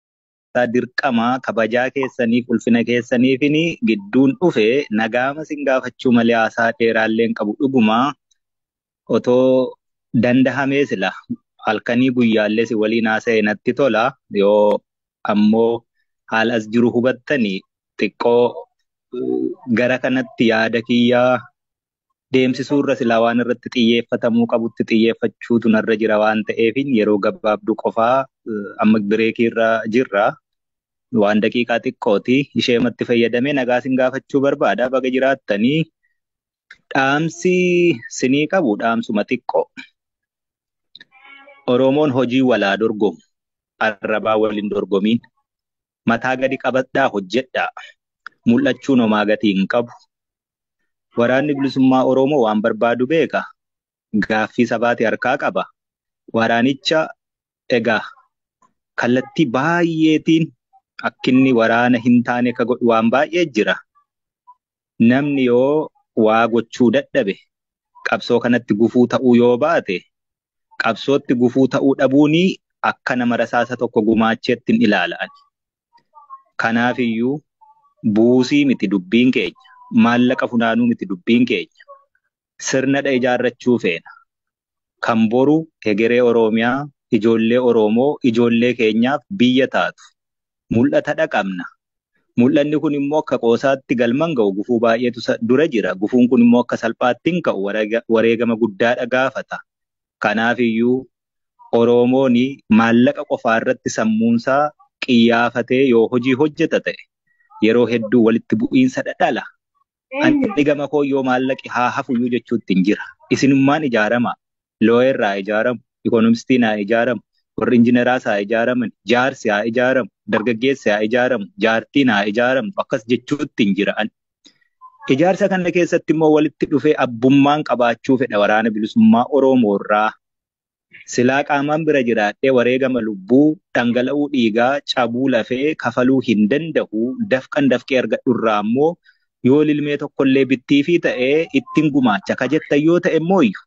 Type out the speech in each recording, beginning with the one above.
keessaa dirqama kabajaa keessaniif ulfina keessaniifin gidduun dhufe nagaama sin gaafachuu malee haasaa dheeraalleen qabu dhuguma otoo dandahamee sila halkanii guyyaallee si waliin haasa'e natti tola yoo ammoo haal as jiru hubattani xiqqoo gara kanatti yaada kiyyaa deemsisuu irra silaa waan irratti xiyyeeffatamuu qabutti xiyyeeffachuutu narra jira waan ta'eefin yeroo gabaabduu qofaa amma bireekii irra jirra. Waan daqiiqaa xiqqooti ishee matti fayyadamee nagaa sin gaafachuu barbaada baga jiraattanii dhaamsi sinii qabu dhaamsuma xiqqoo. Oromoon hojii walaa dorgomu arrabaa waliin dorgomiin mataa gadi qabadhaa hojjedhaa. Mul'achuun homaa gatii hin qabu. Waraanni Bilisummaa Oromoo waan barbaadu beeka. Gaaffii sabaati harkaa qaba. Waraanicha egaa kallattii baay'eetiin akkinni waraana hin taane ka godhu waan baay'ee jira. namni yoo waa gochuu dadhabe qabsoo kanatti gufuu ta'uu yoo baate qabsootti gufuu ta'uu dhabuuni akka nama rasaasa tokko gumaacheettin ilaala ani. Kanaafiyyuu buusii miti dubbiin keenya, maallaqa funaanuu miti dubbiin keenya. Sirnadha ijaarrachuu feena. kan boru hegeree Oroomiyaa, ijoollee Oroomoo, ijoollee keenyaaf biyya taatu mul'ata dhaqabna. Mul'anni kun immoo akka qoosaatti galman ga'u gufuu baay'eetu isa dura jira. Gufuun kun immoo akka salphaatti hin ka'u wareegama guddaadha gaafata. Kanaaf iyyuu Oroomooni maallaqa qofaa irratti sammuunsaa qiyyaafatee yoo hojii hojjeta ta'e yeroo hedduu walitti bu'iinsa dhala. Ani gama koo yoo maallaqi haa hafuyyuu jechuuttiin jira. Isinummaan ijaaramaa. Looyerri haa ijaaramu, ikoonomistiin haa ijaaramu, warri injineraas haa ijaaraman, jaarsi haa ijaaramu, dargaggeessi haa ijaaramu, jaartiin haa ijaaramtu akkas jechuuttiin jira ani. Ijaarsa kana keessatti immoo walitti dhufee abbummaan qabaachuu fedha waraana bilisummaa Oromoorraa Silaa qaamaan bira jiraadhee wareegama lubbuu, dhangala'uu dhiigaa, cabuu lafee kafaluu hin danda'u. Dafqan dafqee argadhu irraa ammoo yoo lilmee tokkollee bittiifii ta'e ittin gumaacha ka jettan yoo ta'e immooyyu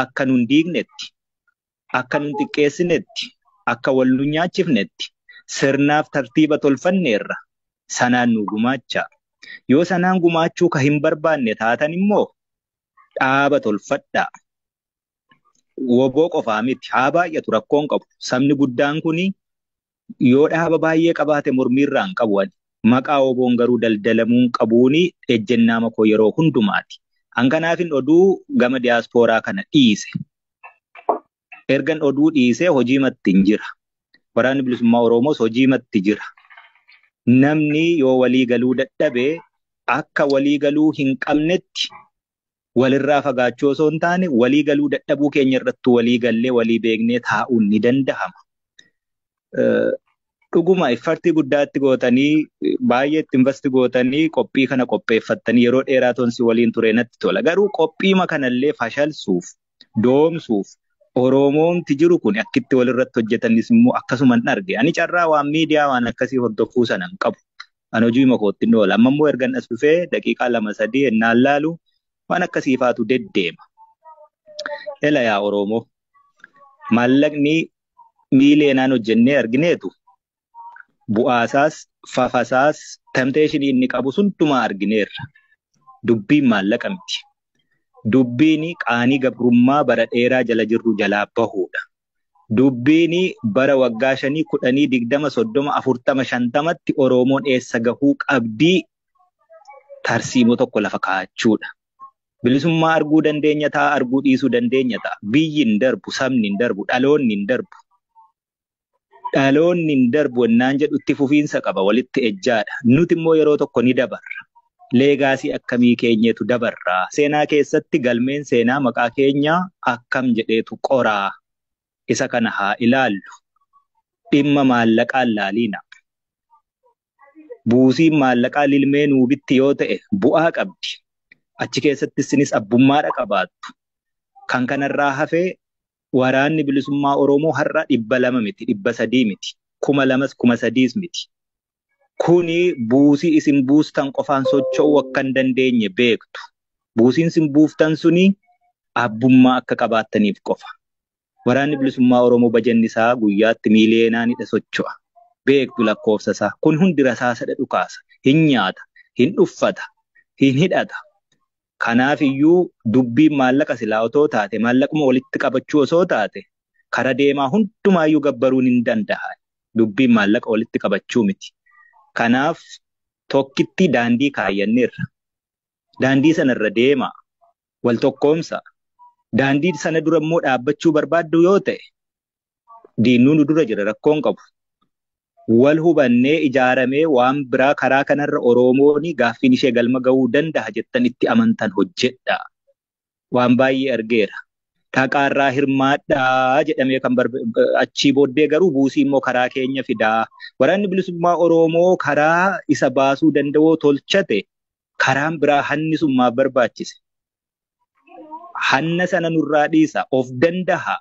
akka nun diignetti, akka nun xiqqeessinetti, akka wal nun nyaachifnetti sirnaaf tartiiba tolfanneerra. Sanaan nuu gumaachaa. Yoo sanaan gumaachuu ka hin barbaanne taatan immoo dhaaba tolfadhaa. woboo qofaa miti haa baay'atu rakkoon qabu sabni guddaan kun yoo dhaaba baay'ee qabaate mormiirraan qabu ani maqaa woboon garuu daldalamuun qabuun ejjennaama koo yeroo hundumaati an kanaafin oduu gama diyaaspooraa kana dhiise ergan oduu dhiisee hojii matti hin jira waraanni bilisummaa oromoos hojii matti jira namni yoo walii galuu dadhabe akka walii galuu hin qabnetti walirraa fagaachuu osoo hin taane walii galuu dadhabuu keenya irratti walii gallee walii beeknee taa'uun ni danda'ama. Dhuguma iffartii guddaatti gootanii baay'ee itti invasti gootanii qophii kana qopheeffattanii yeroo dheeraa tonsi waliin ture natti tola. Garuu qophiima kanallee fashalsuuf doomsuuf Oromoomti jiru kun akkitti walirratti hojjetanis immoo akkasuman arge. Ani carraa waan miidiyaa waan akkasii hordofuu sana hin qabu. An hojii makootti hin oola. Amma immoo ergan as dhufee daqiiqaa lama sadii ennaan laalu waan akkasiifaatu deddeema. Ela yaa Oromoo maallaqni miileenaan hojjennee argineetu bu'aasaas, fafasaas, temptation inni qabu hundumaa argineerra. Dubbiin maallaqa miti. Dubbiin qaanii gabrummaa bara dheeraa jala jirru jalaa bahuudha. Dubbiin bara waggaa shanii, kudhanii, digdama, soddoma, afurtama, shantamatti Oroomoon eessa gahuu qabdii tarsiimoo tokko lafa kaa'achuudha. Bilisummaa arguu dandeenya ta'a, arguu dhiisuu dandeenya ta'a. Biyyi hin darbu, sabni hin darbu, dhaloonni hin darbu. Dhaloonni hin darbu ennaan jedhu itti fufiinsa qaba, walitti ejjaadha. Nuti immoo yeroo tokko ni dabarra. Leegaasii akkamii keenyeetu dabarra? Seenaa keessatti galmeen seenaa maqaa keenyaa akkam jedheetu qora? Isa kana haa ilaallu. Dhimma maallaqaa hin laaliina. Buusiin maallaqaa lilmee nuu bitti yoo ta'e bu'aa qabdi. Achi keessatti isinis abbummaadha qabaattu. Kan kanarraa hafe Waraanni Bilisummaa Oromoo har'a 200 miti, 300 miti, 2000s, 3000s miti. Kuni buusii isin buustan qofaan socho'uu akka hin dandeenye beektu. Buusiin isin buuftan suni abbummaa akka qabaattaniif qofa. Waraanni Bilisummaa Oromoo bajanni isaa guyyaatti miiliyeenaanidha socho'a. Beektu lakkoofsa isaa. Kun hundi rasaasadha dhukaasa. Hin nyaata, hin uffata, hin hidhata. Kanaaf iyyuu dubbiin maallaqa silaa otoo taate maallaquma walitti qabachuu osoo taate kara deemaa hundumaa iyyuu gabbaruun hin danda'an. Dubbiin maallaqa walitti qabachuu miti. Kanaaf tokkitti daandii kaayyanneerra. Daandii sana irra deemaa. Wal tokkoomsaa. Daandii sana dura immoo dhaabbachuu barbaaddu yoo ta'e diinnuu nu dura jira rakkoon qabu. Wal hubannee ijaaramee waan biraa karaa kanarra Oromooni gaaffiin ishee galma ga'uu danda'a jettan itti amantan hojjedha. Waan baay'ee argeera. Dhaqaarraa hirmaadhaa jedhamee kan achii booddee garuu buusii immoo karaa keenya fidaa. Waraanni bilisummaa Oromoo karaa isa baasuu danda'oo tolchate karaan biraa hanni sun maaf barbaachise? Hanna sana nurraa dhiisa of danda'a.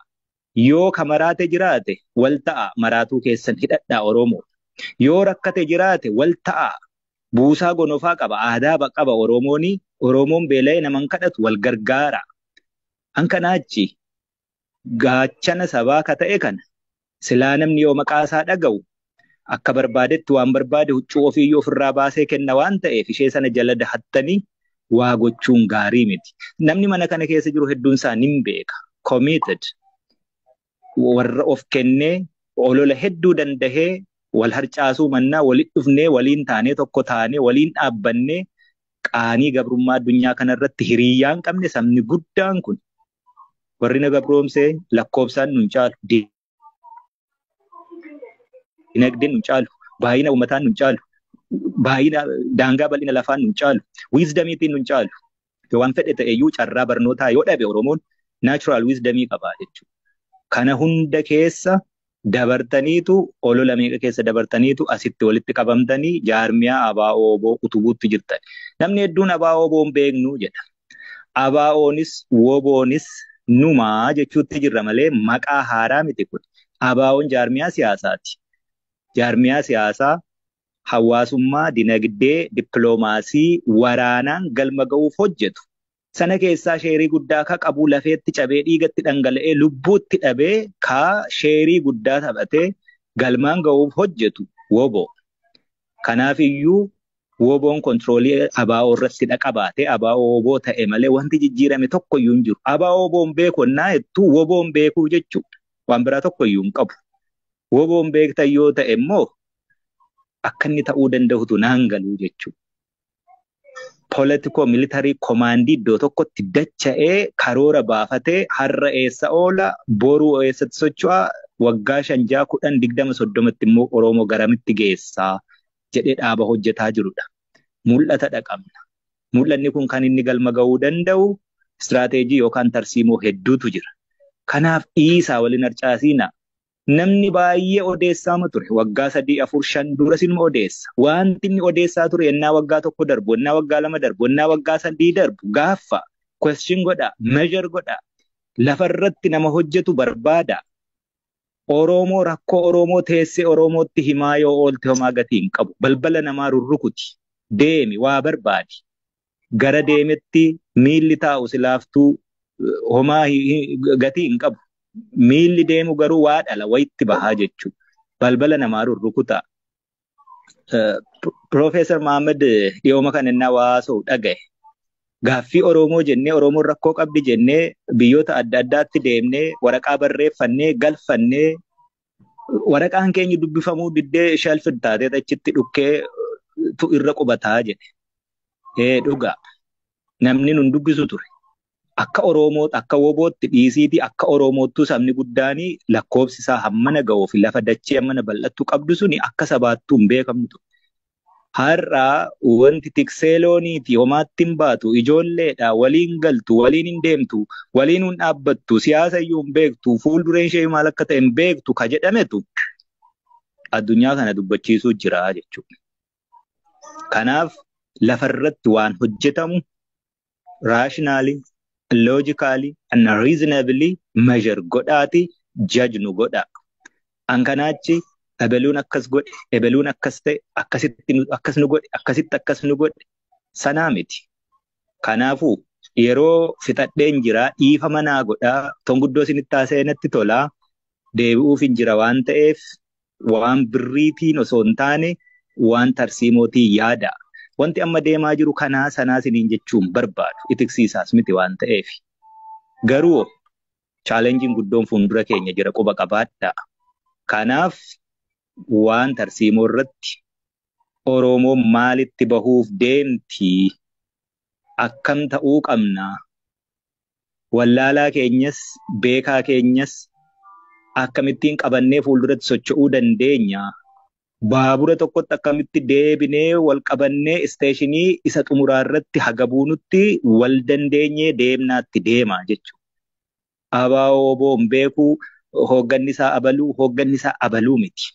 Yoo ka maraate jiraate wal ta'aa maraatuu keessan hidhadhaa Oroomoo. Yoo rakkate jiraate wal ta'aa buusaa gonofaa qaba aadaa ba qaba Oroomooni Oroomoon beela'ee nama hin kadhatu wal gargaaraa. An kanaa achi gaachana sabaa ka ta'e kana silaa namni yoo maqaa isaa dhaga'u akka barbaadetti waan barbaade huccuu ofiiyyuu ofirraa baasee kenna waan ta'eef ishee sana jala dahattanii waa gochuun gaarii miti. Namni mana kana keessa jiru hedduun isaa nin beeka. Committed. Warra of kennee olola hedduu dandahee wal harcaasuu mannaa walitti dhufnee waliin taanee tokko taanee waliin dhaabbannee qaanii gabrummaa addunyaa kanarratti hiriyaa hin qabne sabni guddaan kun warri na gabroomsee lakkoobsaan nun caalu Dinagdeen nu caalu, baay'ina uummataan nu caalu, baay'ina daangaa bal'ina lafaan nu caalu, wiizdamiitiin nu caalu. Waan fedhe ta'eyyuu carraa barnootaa yoo dhabe Oromoon naachuraal wiizdamii qaba jechuudha. Kana hunda keessa dabartaniitu olola meeqa keessa dabartaniitu asitti walitti qabamtanii jaarmiyaa abaa'oo oboo utubuutti jirtan. Namni hedduun abaa'oo oboo hin beeknu jedha. ABOnis WOBOnis numa jechuutti jirra malee maqaa haaraa miti kun. ABOn jaarmiyaa siyaasaati. Jaarmiyaa siyaasaa hawaasummaa, dinagdee, dippiloomaasii, waraanaan galma ga'uuf hojjetu. Sana keessaa sheerii guddaa ka qabu lafeetti cabee dhiigatti dhangala'ee lubbuutti dhabee ka sheerii guddaa taphatee galmaan ga'uuf hojjetu wobo. Kanaaf iyyuu Woboon kontiroolii ABO irratti dhaqabaate ABO woboo ta'e malee wanti jijjiirame tokko iyyuu hin jiru. ABO woboon beeku ennaa jettu woboon beekuu jechuu waan biraa tokko iyyuu hin qabu. Woboon beektan yoo ta'e immoo akka inni ta'uu danda'utu naan galuu jechuu. Politikoo militarii komaandii iddoo tokkotti dacha'ee karoora baafatee har'a eessa oola boruu eessatti socho'a waggaa shan ja'a kudhan digdama soddomatti immoo Oromoo garamitti geessaa jedhee dhaaba hojjetaa jirudha. Mul'ata dhaqabna. Mul'anni kun kan inni galma ga'uu danda'u istiraateejii yookaan tarsiimoo hedduutu jira. Kanaaf dhiisaa waliin harcaasiina. Namni baay'ee odeessaama ture. Waggaa sadii, afur, shan dura sinuma odeessa. Wanti inni odeessaa ture ennaa waggaa tokko darbu, ennaa waggaa lama darbu, ennaa waggaa sadii darbu gaaffa, question godha, measure godha, lafarratti nama hojjetu barbaada. Oroomoo rakkoo Oroomoo teessee Oroomootti himaa yoo oolte homaa gatii hin qabu. Balbala namaa rurrukuti. Deemi waa barbaadi. Gara deemetti miilli taa'u si laaftuu homaa gatii hin qabu. Miilli deemu garuu waa dhala wayitti bahaa jechuudha. Balbala namaa rurrukutaa. Piroofeesar Mahammad dhiyooma kan inni hawaasa'u dhagaye. Gaaffii Oromoo jennee Oromoon rakkoo qabdi jennee biyyoota adda addaatti deemnee waraqaa barreeffannee galfannee waraqaan keenya dubbifamuu diddee shelf taatee achitti dhukkee tu irra qubataa jedhe. Ee dhugaa. namni nun dubbisu ture. Akka Oroomoo akka wobootti dhiisiitii akka Oromoottuu sabni guddaan lakkoobsi isaa hammana ga'uu fi lafa dachee hammana bal'attu qabdu suni akka sabaattuu hin beekamtu ture. Har'a wanti tiksee looniiti homaatti hin baatu ijoolleedha waliin galtu waliin hin deemtu waliin hin dhaabbattu siyaasa iyyuu hin beektu fuuldureen ishee maal akka ta'e hin beektu ka jedhametu addunyaa kana dubbachiisuu jira jechuudha. Kanaaf lafa irratti waan hojjetamu rationally, logically and reasonably measure godhaati judge nu godhaa. An kanaachi ebeluun akkas godhe, ebeluun akkas ta'e, akkasitti nu- akkas nu godhe, akkasitti akkas nu godhe sanaa miti. Kanaafuu yeroo fixadheen jira dhiifama naa godhaa ton guddoo isinitti haasa'ee natti tolaa deebi'uuf hin jira waan ta'eef waan birriitiin osoo hin taane waan tarsiimootiin yaada. Wanti amma deemaa jiru kanaa sanaa siniin jechuun barbaadu itiksiisaas miti waan ta'eef. Garuu chaalenjiin guddoon fuundura keenya jira quba qabaadha. Kanaaf waan tarsiimoo irratti Oromoon maalitti bahuuf deemti akkam ta'uu qabna wallaalaa keenyas beekaa keenyas akkamittiin qabannee fuulduratti socho'uu dandeenya? Baabura tokkotti akkamitti deebinee wal qabannee isteeshinii isa xumuraa irratti haga buunutti wal dandeenyee deemnaatti deema jechuudha. ABO-WBOn beekuu hoogganni isaa abaluu hoogganni isaa abaluu miti.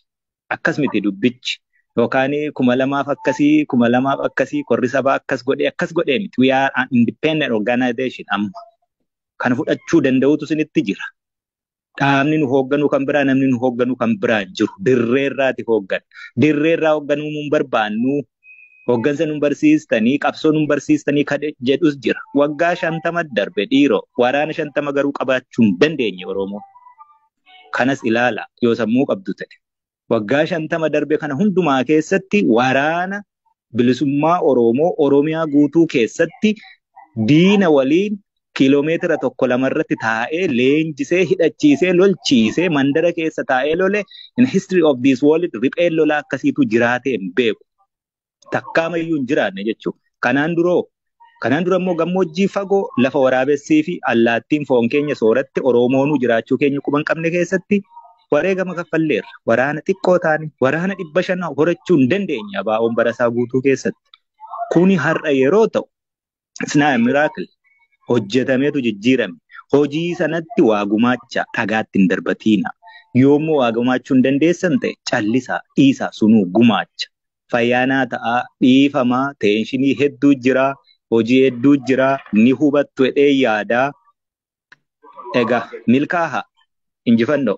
Akkas miti dubbichi. Yookaan kuma lamaaf akkasii, kuma lamaaf akkasii, korri sabaa akkas godhee, akkas godhee miti. We are an independent organization amma. Kan fudhachuu danda'utu isinitti jira. Dhaabni nu hoogganuu kan biraa, namni nu hoogganuu kan biraa hin jiru. Dirree irraati hooggan. Dirree irraa hoogganuu hin barbaannu. Hooggansa nu barsiistanii, qabsoo nu barsiistanii kan jedhus jira. Waggaa shantama darbe dhiiroo. Waraana shantama garuu qabaachuu hin dandeenye Oromoo. Kanas ilaalaa yoo sammuu qabdu ta'e. Waggaa 50 darbe kana hundumaa keessatti waraana bilisummaa Oroomoo Oromiyaa guutuu keessatti diina waliin kiiloomeetira tokko lama irratti taa'ee leenjisee hidhachiisee lolchiisee mandara keessa taa'ee lole in history of this world ripheen lolaa akkasiitu jiraatee hin beeku. takkaamayyuu hin jiraanne jechuudha. Kanaan duroo Kanaan dura immoo gammoojjii fagoo lafa waraabessii fi allaattiin foon keenya sooratte Oroomoonuu jiraachuu keenya quba hin qabne keessatti wareegama kaffalleerra. Waraana xiqqoo taane waraana dhibba shan horachuu hin dandeenye abaa'oon barasaa guutuu keessatti. Kuni har'a yeroo ta'u It's not a miracle. Hojjetameetu jijjiirame. Hojii sanatti waa gumaacha dhagaatti hin darbatiina. Yoommoo waa gumaachuu hin dandeessan ta'e callisaa dhiisaa sunuu gumaacha. Fayyaanaa ta'aa dhiifamaa teenshinii hedduu jira hojii hedduu jira ni hubattu jedhee yaadaa. Egaa milkaaha injifannoo.